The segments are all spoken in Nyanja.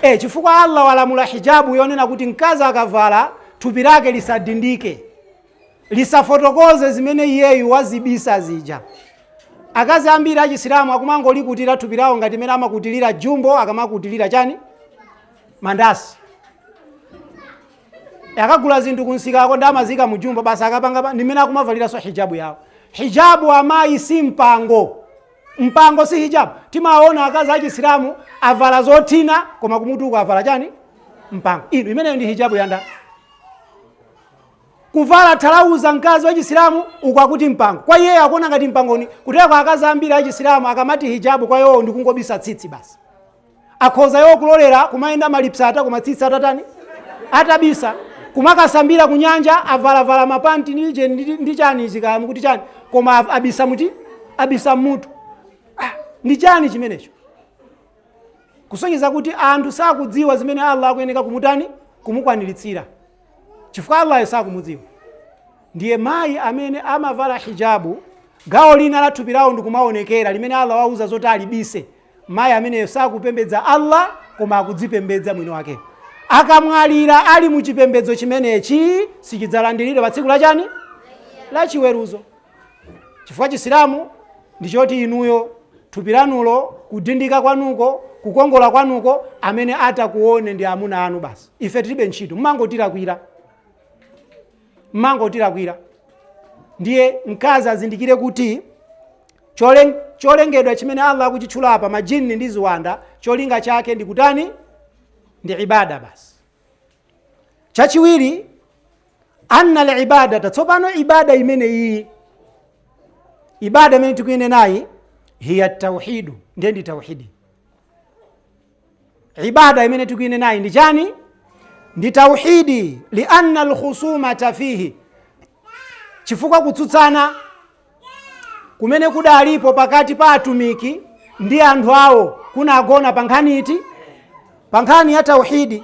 E, chifukwa Allah walamula hijabu yonena kuti mkazi akavala thupi lake lisadindike, lisafotokoze zimene iyeyu wazibisa zija. Akazi ambiri achisilamu akumangolikutira thupi lawo ngati mmene amakutilira jumbo akamakutilira chani mandasi akagula zinthu kumsikako n'kumaziika mu jumbo basi akapanga pa- ndi mmene akumavaliranso hijabu yawo hijabu amayi si mpango Mpango si hijabu. Timaona akazi a Chisilamu avala zothina koma kumutu uko avala chani? Mpango. Inu imeneyo ndi hijabu ya ndani. Kuvala thalauza mkazi wa Chisilamu uko akuti mpango. Kwa iyeyo akuona ngati mpangoni. Kutera kwa akazi ambiri a Chisilamu akamati hijabu kwa iwo ndi kungobisa tsitsi basi. Akhoza iwo kulolera kumayenda maliseche koma tsitsi atatani? Atabisa. Kumakasambira ku nyanja avalavala ma panti ndi jeni ndi, ndi chani ichi kaya mukuti chani koma av- abisa muti abisa mmutu. Ah, ndi chani chimenecho? Kusonyeza kuti anthu sakudziwa zimene Allah akuyeneka kumutani kumukwaniritsira chifukwa Allahyo sakumudziwa. Ndiye mayi amene amavala hijabu magawo ena a thupi lawo ndikumaonekera limene Allah wauza zoti alibise mayi ameneyo sakupembedza allah koma akudzipembedza mwini wake akamwalira ali mu chipembedzo chimenechi sichidzalandiridwa pa tsiku la chani la chiweruzo chifukwa chisilamu ndi choti inuyo thupi lanulo kudindika kwanuko kukongola kwanuko amene atakuone ndi amuna anu basi ife tilibe ntchito mumangotilakwira mumangotilakwira ndiye mkazi azindikire kuti cholen- cholengedwa chimene allah akuchitchula apa majini ndi ziwanda cholinga chake ndi kutani ndi ibada basi chachiwiri anna libadata tsopano ibada imene iyi ibada imene tikuyinenayi hiya tauhidu ndiye ndi tauhidi ibada imene tikuinenayi ndi chani ndi tauhidi lianna lkhusumata fihi chifukwa kutsutsana kumene kudalipo pakati pa atumiki ndi anthu awo kunagona pa nkhani iti pa nkhani ya tauhidi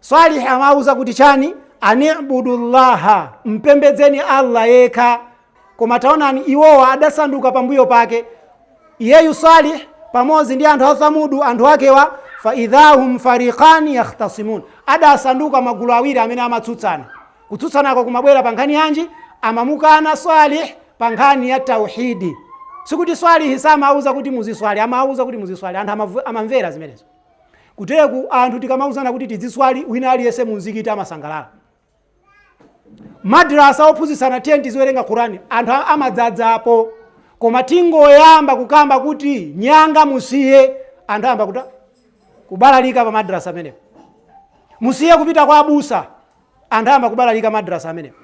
Swalih amawauza kuti chani? Ani'budullaha, mpembedzeni Allah yekha. Koma taonani iwowa adasanduka pambuyo pake iyeyu Salih pamodzi ndi anthu a Thamudu anthu akewa fa idhahum fariqani yakhtasimun, adasanduka magulu awiri amene amatsutsana. Kutsutsanako kumabwera pa nkhani yanji? Amamukana Salih pa nkhani ya tauhidi. Sikuti Swalihi samawauza kuti muziswali, amawauza kuti muziswali, anthu amavu- amamvera zimenezo. Kuteku anthu tikamauzana kuti tidziswali wina aliyense munzikiti amasangalala. Madrasa ophunzitsana tiyeni tiziwerenga Quran anthu a- amadzadzapo koma tingoyamba kukamba kuti nyanga musiye anthu ayamba kuta kubalalika pa madrasa amenepo. Musiye kupita kwa abusa anthu ayamba kubalalika madrasa amenepo.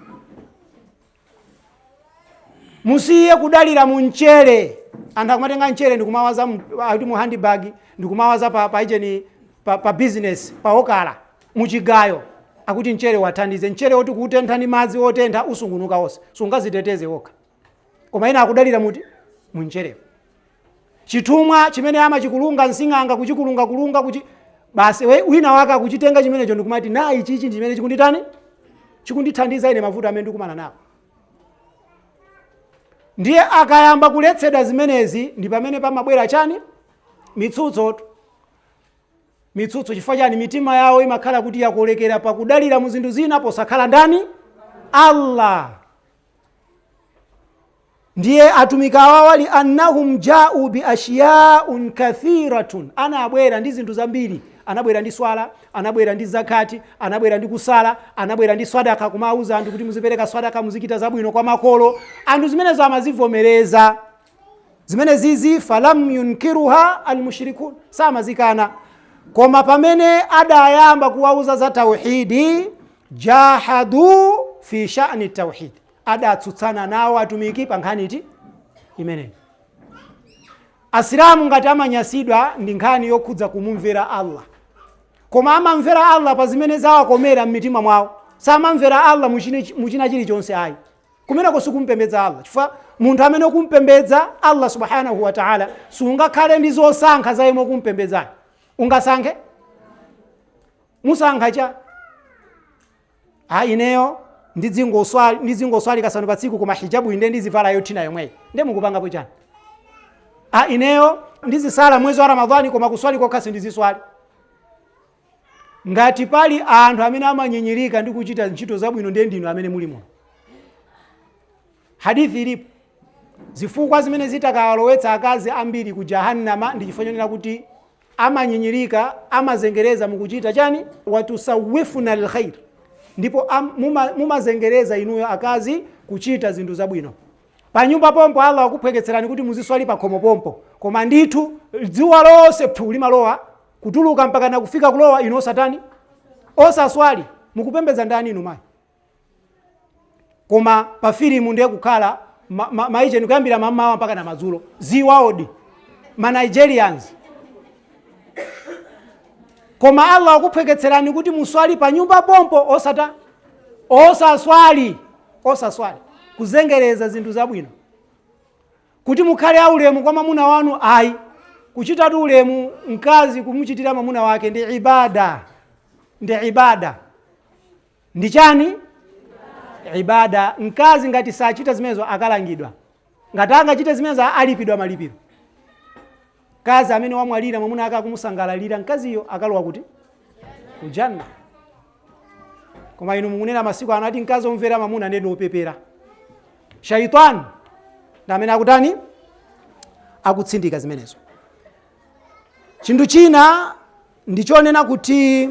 musiye kudalira mu mchere anthu akumatenga mchere ndikumawaza mu- ati mu handbag ndikumawaza pa, pa geni pa, pa business pa okala muchigayo akuti mchere wathandize mchere woti kuutentha ndi madzi otentha usungunuka onse sungaziteteze okha koma ena akudalira muti mu mcherewo chithumwa chimene amachikulunga sing'anga kuchikulungakulunga kuchi basi we- wina wake akuchitenga chimenecho ndikumati na ichichi ndi chimene chikunditani chikundithandiza ine mavuto amene ndikumana nawo ndiye akayamba kuletsedwa zimenezi ndi pamene pamabwera chani mitsutso mitsutso chifukwa chani mitima yawo imakhala kuti yakolekera pakudalira mu zinthu zina posakhala ndani allah Ndiye atumiki awawa li annahum jau bi ashyaa kathiratun, anabwera ndi zinthu zambiri. Anabwera ndi swala, anabwera ndi zakati, anabwera ndi kusala, anabwera ndi swadaka, kumawuza anthu kuti muzipereka swadaka, muzichita zabwino kwa makolo. Anthu zimenezo amazivomereza zimenezizi falam yunkiruha almushrikun samazikana koma pamene adayamba kuwauza za tauhidi jahadu fi shani tauhidi adatsutsana nawo atumiki pa nkhani iti imeneyi asilamu ngati amanyasidwa ndi nkhani yokhudza kumumvera allah koma amamvera allah pa zimene zawakomera m'mitima mwawo samamvera allah muchine- muchina chilichonse ayi kumeneko sikumpembedza allah chifukwa munthu amene ukumpembedza allah subhanahu wa taala sungakhale ndi zosankha za yemwe ukumpembedzayo ungasankhe musankha cha ah ineyo ndidzingoswali ndidzingoswali kasanu pa tsiku koma hijabu inde ndizivala yothina yomweyo nde mukupangapo chani ah ineyo ndizisala mwezi wa ramadhani koma kuswali kokha sindiziswali ngati pali anthu amene amanyinyirika ndi kuchita ntchito zabwino ndiye ndinu amene muli muno hadithi ilipo zifukwa zimene zitakawalowetsa akazi ambiri ku jahannama ndi chifukwa chonena kuti amanyinyirika, amazengereza mu kuchita chani? Watusawwifuna alkhair, ndipo am, muma, mumazengereza inuyo akazi kuchita zinthu zabwino. Panyumba pompo Allah wakuphweketserani kuti muziswali pakhomo pompo, koma ndithu dzuwa lonse phu limalowa kutuluka mpaka nakufika kulowa, inu osatani? Osaswali. Mukupembedza ndani inu mayi? koma pa filimu ndiye kukhala ma- ma- maijeni kuyambira mamawa mpaka na madzulo ziwaodi ma nigerians koma allah akuphweketserani kuti muswali pa nyumba pompo osa- osaswali osaswali kuzengereza zinthu zabwino kuti mukhale aulemu kwa mamuna wanu ayi kuchitatu ulemu mkazi kumuchitira mamuna wake ndi ibada ndi ibada ndi chani? Ibadah. Mkazi ngati sachita zimenezo akalangidwa, ngati angachite zimenezo alipidwa malipiro. Mkazi amene wamwalira mwamuna ake akumusangalalira, mkaziyo akalowa kuti kujanna. Koma inu mukunena masiku ano ati mkazi omvera mwamuna nde ndi opepera. Shaitani ndi amene akutani akutsindika zimenezo. Chinthu china ndichonena kuti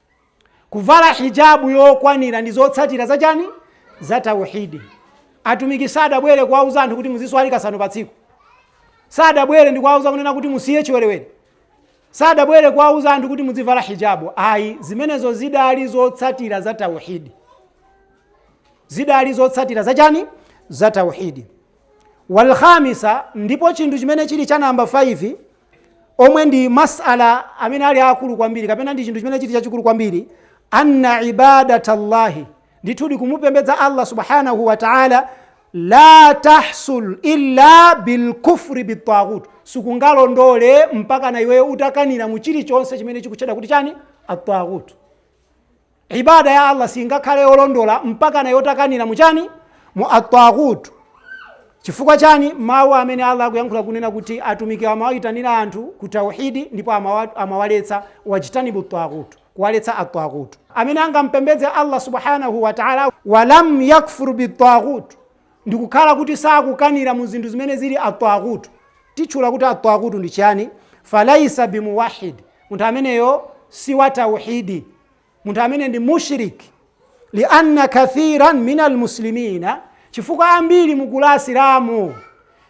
kuvala hijabu yokwanira ndi zotsatira za chani za tauhidi atumiki sadabwere kuwauza anthu kuti muziswali kasanu pa tsiku sadabwere ndi kuwauza kunena kuti musiye chiwerewere sadabwere kuwauza anthu kuti muzivala hijabu ayi zimenezo zidali zotsatira za tauhidi zidali zotsatira za chani za tauhidi wal khamisa ndipo chinthu chimene chili cha namba 5 omwe ndi masala amene ali akulu kwambiri kapena ndi chinthu chimene chili chachikulu kwambiri anna ibadata llahi ndithudi kumupembedza allah subhanahu wa taala la tahsul illa bilkufri bitaghut siingalondole mpaka na iweyo utakanira mu chilichonse chimene chikutchedwa kuti chani ataghut Ibaada ya Allah singakhale yolondola mpakana iwe utakanira mu chani? Mu at-taghut. Chifukwa chani? Mawu amene Allah akuyankhula kunena kuti atumiki amawayitanira anthu ku tauhidi ndipo amawa- amawaletsa wajtanibu at-taghut, kuwaletsa at-taghut. Amene angampembedze Allah Subhaanahu wa Ta'ala walam yakfur bit-taghut, ndikukhala kuti sakukanira mu zinthu zimene zili attaghut titchula kuti attaghut ndi chani falaisa bimuwahid munthu ameneyo si wa tauhidi munthu amene ndi mushrik lianna kathiran min almuslimina chifukwa ambiri mugulu la asilamu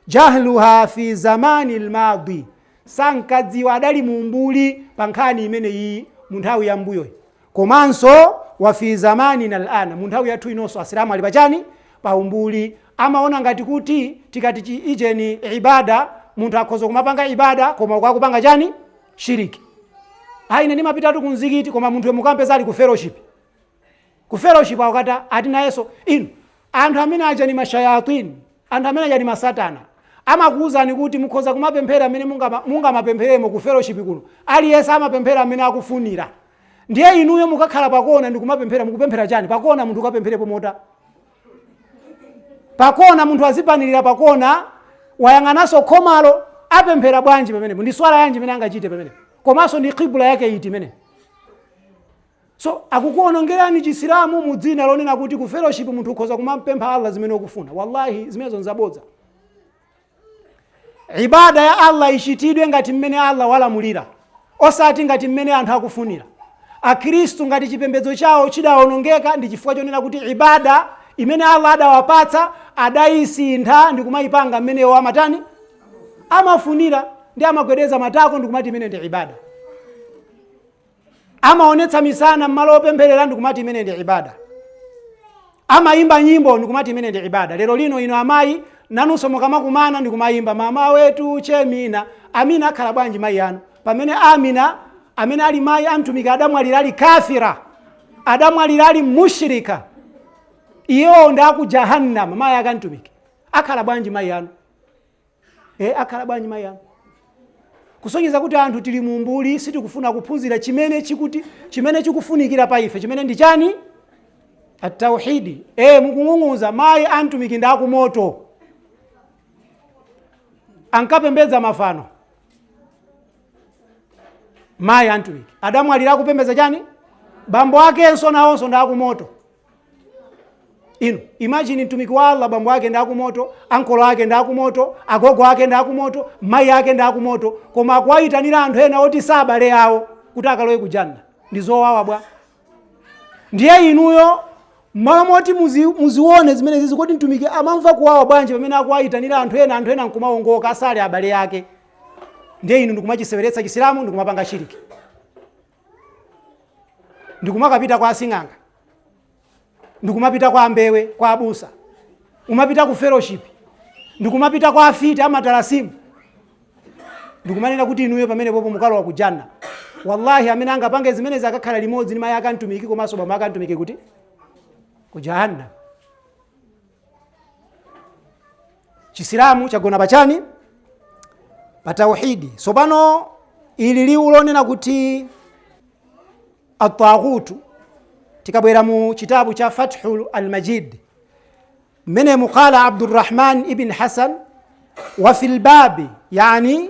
jahluha fi zamani lmadi sankadziwa adali mumbuli pa nkhani imeneyi mu nthawi ya mbuyoyi Komanso wa fi zamanina al-an, mu nthawi yathu inonso Asilamu ali pa chani? Pa umbuli. Amaona ngati kuti tikati ijeni ibada, munthu akhoza kumapanga ibada koma uku akupanga chani? Shirk. Ah, ine ndimapitatu ku mzikiti koma munthuyo mukampeza ali ku fellowship. Ku fellowship akuti ati nayenso inu anthu amene aja ni mashayatini, anthu amene aja ni masatana. Amakuuzani kuti mukhoza kumapemphera amene mungamapempheremo ku fellowship kuno. Aliyense amapemphera amene akufunira. ndiye inuyo mukakhala pakona ndikumapemphera mukupemphera chani pakona munthu ukapempherepo mota pakona munthu azipanirira pakona wayang'ananso khomalo apemphera bwanji pamenepo ndi swala yanji imene angachite pamenepo komanso ndi kibula yake iti imenepo so akukuonongerani chisilamu mu dzina lonena kuti ku fellowship munthu ukhoza kumampempha allah zimene ukufuna wallahi zimenezo nzabodza ibada ya allah ichitidwe ngati mmene allah walamulira osati ngati mmene anthu akufunira akhristu ngati chipembedzo chawo chidawonongeka ndi chifukwa chonena kuti ibada imene allah adawapatsa adayisintha ndi kumayipanga mmene iwo amatani amafunira ndi amagwedeza matako ndi kumati imene ndi ibada amaonetsa misana mmalo opempherera ndikumati imene ndi ibada amayimba nyimbo ndikumati imene ndi ibada lero lino ino amayi nanunso mukamakumana ndikumayimba mama wetu che amina amina akhala bwanji mayi anu pamene amina amene ali mayi amtumiki adamwalira ali kafira adamwalira ali mushrika iyewo ndi aku jahannama mayi akamtumiki akhala bwanji mayi anu e akhala bwanji mayi anu kusonyeza kuti anthu tili mumbuli sitikufuna kuphunzira chimene chikufunikira pa ife chimene ndi chani atauhidi e mukung'ung'uza mayi amtumiki ndi akumoto ankapembedza mafano mayi amtumiki adamwalira akupembedza chani bambo akenso nawonso ndi akumoto inu imagine mtumiki wa allah bambo ake ndi akumoto ankolo ake ndi akumoto agogo ake ndi akumoto mayi ake ndi akumoto koma akuwayitanira anthu ena oti si abale awo kuti akalowe kujanna ndi zowawa bwa ndiye inuyo mmalo moti muzi- muzione zimenezizi kuti mtumiki amamva kuwawa bwanji pamene akuwayitanira anthu ena anthu ena nkumawongoka asali abale ake ndiye inu ndikumachiseweretsa chisilamu ndikumapanga shiriki ndikumakapita kwa asing'anga ndikumapita kwa ambewe kwa abusa kumapita ku fellowship ndikumapita kwa afiti amatalasimu ndikumanena kuti inuyo pamenepopo mukalowa ku janna wallahi amene angapange zimenezi akakhala limodzi ndi mayi akantumiki komanso bambo akantumiki kuti ku jahannam chisilamu chagona pachani pa tauhidi tsopano ili liwu lonena kuti atagutu tikabwera mu chitabu cha fathu almajid mmene muqala abdurrahman ibn hasan wa fi lbabi yani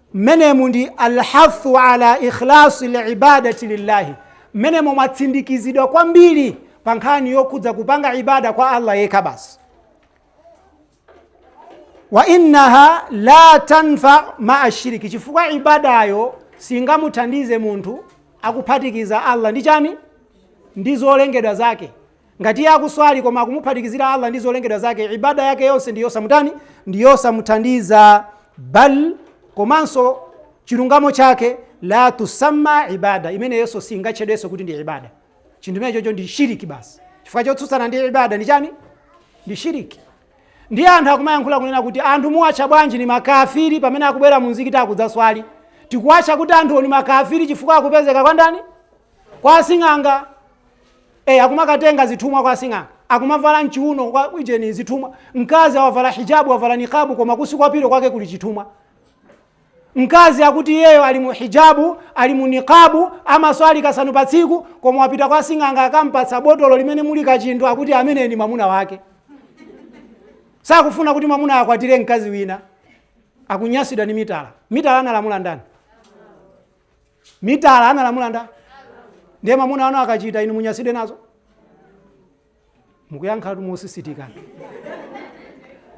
Mmenemu ndi Al-Hathu ala Ikhlasi l-Ibadati Lillahi, mmenemo mwatsindikizidwa kwambiri pa nkhani yokhudza kupanga ibada kwa Allah yekha basi. Wa innaha la tanfau ma'a shiriki, chifukwa ibadayo singamuthandize munthu akuphatikiza Allah ndi chani? Ndi zolengedwa zake. Ngati iye akuswali koma akumuphatikizira Allah ndi zolengedwa zake, ibadah yake yonse ndi yosamutani, ndi yosamuthandiza, bal komanso chilungamo chake la tusamma ibadah, imeneyonso singatchedwenso kuti ndi ibadah. Chinthu chimene chocho ndi shiriki basi, chifukwa chotsutsana ndi ibadah ndi chani? Ndi shiriki. Ndiye anthu akumayankhula kunena kuti anthu muwatcha bwanji ndi makafiri pamene akubwera mu mzikiti akudzaswali? Tikuwatcha kuti anthu ndi makafiri chifukwa akupezeka kwa ndani? Kwa asing'anga. e, akumakatenga zithumwa kwa asing'anga akumavala mchiuno kwa ujeni zithumwa mkazi wavala hijabu wavala nikabu koma kusi kwa pilo kwake kuli chithumwa mkazi akuti iyeyo ali mu hijabu ali mu nikabu amaswali kasanu pa tsiku koma wapita kwa sing'anga akampatsa botolo limene muli kachinthu akuti ameneyo ndi mwamuna wake sakufuna kuti mwamuna akwatire mkazi wina akunyasidwa ndi mitala mitala analamula ndani mitala analamula nda ndiye amuna anu akachita inu munyasidwe nazo mukuyankhatu mosisitikana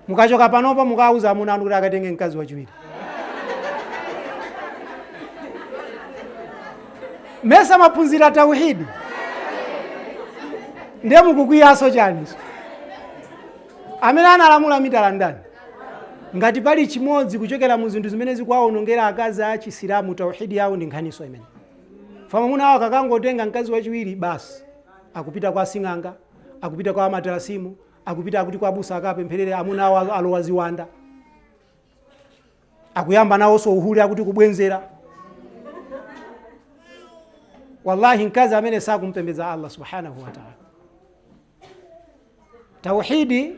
mukachoka panopa mukawuza amuna anu kuti akatenge mkazi wachiwiri mesa mwaphunzira tauhidi ndiye mukukwiyaso chaniso Amene analamula mitala ndani? Ngati pali chimodzi kuchokera mu zinthu zimene zikuwawonongera akazi a Chisilamu tauhidi yawo ndi nkhaniso imeneyi. Fa mwamuna wawo akakangotenga mkazi wachiwiri basi akupita kwa asing'anga, akupita kwa amatalasimu, akupita akuti kwa abusa akapempherere amuna awo al- alowa ziwanda. Akuyamba nawoso uhule akuti kubwenzera. Wallahi mkazi amene sakumpembedza Allah subhanahu wa ta'ala. tauhidi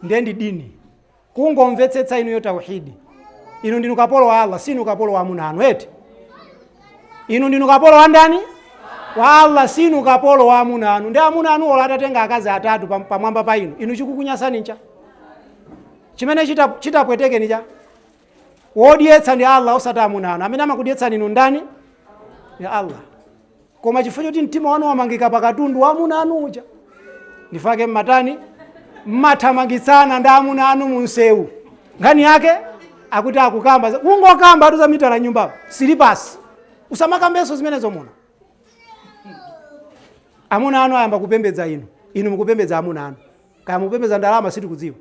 ndiye ndi dini kungomvetsetsa inuyo tauhidi inu ndinu kapolo wa allah sinu kapolo wa amuna anu eti inu ndinu kapolo wa ndani wa allah sinu kapolo wa amuna anu nde amuna anu olo atatenga akazi atatu pam- pamwamba pa inu inu chikukunyasani ncha chimene chita- chitapwetekeni cha wodyetsa ndi allah osati amuna anu amene amakudyetsani inu ndani ndi allah koma chifukwa choti mtima wanu wamangika pa katundu wa amuna anu uja ndifake mmatani mmathamangitsana ndi amuna anu mu msewu nkhani yake akuti akukamba za- ungokamba atu za mitala nyumba silipasi usamakambenso zimenezo muno amuna anu ayamba kupembedza inu inu mukupembedza amuna anu kaya mukupembedza ndalama sitikudziwa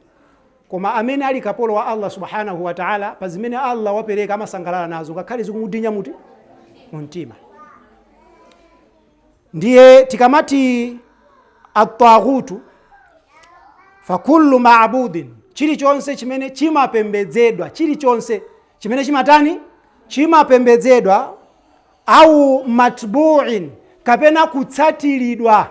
Koma amene ali kapolo wa Allah Subhaanahu wa Ta'ala, pa zimene Allah wapereka amasangalala nazo ngakhale zikumudinya muti? Mu mtima. Ndiye tikamati at-taghutu fa kullu ma'budin, chilichonse chimene chimapembedzedwa, chilichonse chimene chimatani? Chimapembedzedwa au matbu'in, kapena kutsatiridwa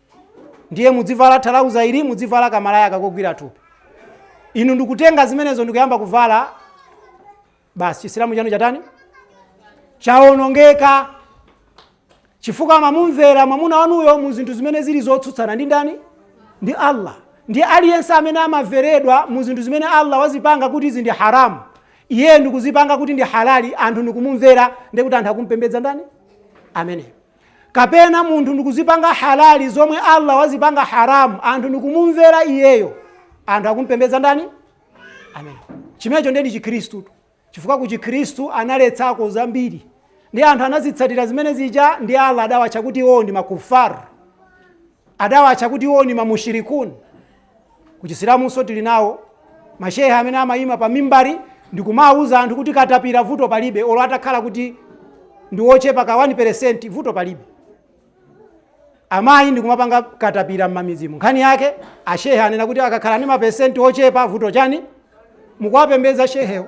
ndiye mudzivala thalauza ili mudzivala kamalaya kakogwira thupi inu ndikutenga zimenezo ndikuyamba kuvala basi chisilamu chanu chatani chawonongeka chifukwa mamumvera mwamuna wanuyo mu zinthu zimene zili zotsutsana ndi ndani ndi allah ndiye aliyense amene amamveredwa mu zinthu zimene allah wazipanga kuti izi ndi haramu iye ndikuzipanga kuti ndi halali anthu ndikumumvera ndikuti anthu akumpembedza ndani ameneyo kapena munthu ndikuzipanga halali zomwe allah wazipanga haramu anthu ndikumumvera iyeyo anthu akumpembedza ndani amene chimenecho ndiye ndi chikhristutu chifukwa ku chikhristu analetsako zambiri ndi anthu anazitsatira zimene zija ndi allah adawatcha kuti iwowo ndi makufaru adawatcha kuti iwowo ndi mamushirikuni Ku Chisilamunso tili nawo ma Shehe amene amayima pa mimbari ndikumawuza anthu kuti katapira vuto palibe olo atakhala kuti ndi wochepa ka 1% vuto palibe. Amayi ndikumapanga katapira mmamidzimu. Nkhani yake a Shehe anena kuti akakhala ndi ma percent ochepa vuto chani? Mukuwapembedza Shehewo.